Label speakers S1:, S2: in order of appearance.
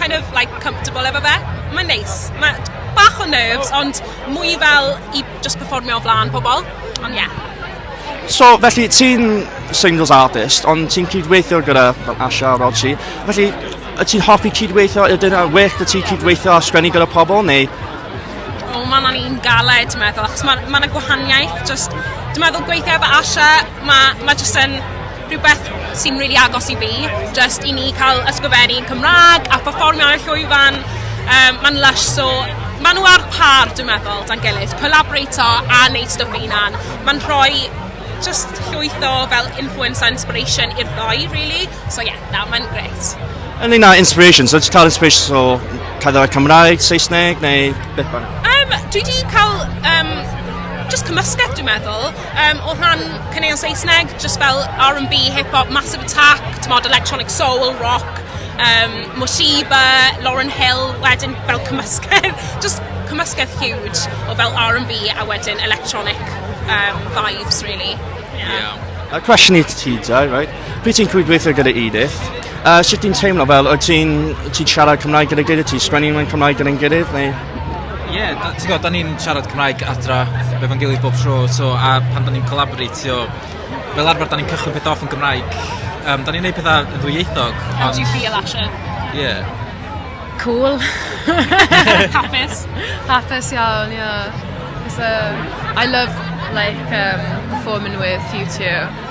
S1: kind of like comfortable efo fe. Mae'n neis. Mae bach o nerves, ond mwy fel i just performio o flaen pobl. Ond ie. Yeah. So,
S2: felly, ti'n singles artist, ond ti'n cydweithio gyda fel Asha a Rodsi. Felly, y ti'n hoffi cydweithio? Ydyn nhw'n wych da ti cydweithio a sgwennu gyda pobl, neu? O, oh,
S1: mae'n un galed, dwi'n meddwl, achos mae'n ma gwahaniaeth. Just, dwi'n meddwl gweithio efo Asha, mae ma just yn rhywbeth sy'n rili agos i fi, jyst i ni cael ysgrifennu yn Cymraeg a pherfformio ar y llwyfan. Um, Mae'n lush, so maen nhw ar par, dwi'n meddwl, dan gilydd. Collaborato a wneud stwff ei hunan. Mae'n rhoi just llwyth o fel influence a inspiration i'r ddoi, really. So yeah, na, mae'n gret. Yn un o
S2: inspiration, so ti'n cael inspiration o cadw Cymraeg, Saesneg neu beth bynnag? Um, dwi wedi cael
S1: um, just cymysgedd, dwi'n meddwl. Um, o rhan caneuon Saesneg, just fel R&B, hip-hop, Massive Attack, tymod, electronic soul, rock, um, Moshiba, Lauren Hill, wedyn fel cymysgedd, just cymysgedd huge o fel R&B a wedyn electronic um, vibes, really. Yeah. yeah. A
S3: cwestiwn i ti,
S2: Jai, right? Pryd ti'n cwydweithio gyda Edith, uh, sut ti'n teimlo fel, wyt ti'n ti siarad Cymraeg gyda gilydd, ti'n sgwennu mewn Cymraeg gyda'n gilydd, neu? Ie, yeah,
S3: ti'n gwybod, da ni'n siarad Cymraeg adra, fe fo'n gilydd bob tro, so, a pan da ni'n collaboratio, fel arfer da ni'n cychwyn peth off yn Gymraeg, um, da ni'n neud pethau yn ddwyieithog. How do you feel, Asha? Ie.
S1: Yeah.
S3: Cool.
S1: Hapus. Hapus
S4: iawn, ie. Yeah. So, I love, like, um, performing with you two.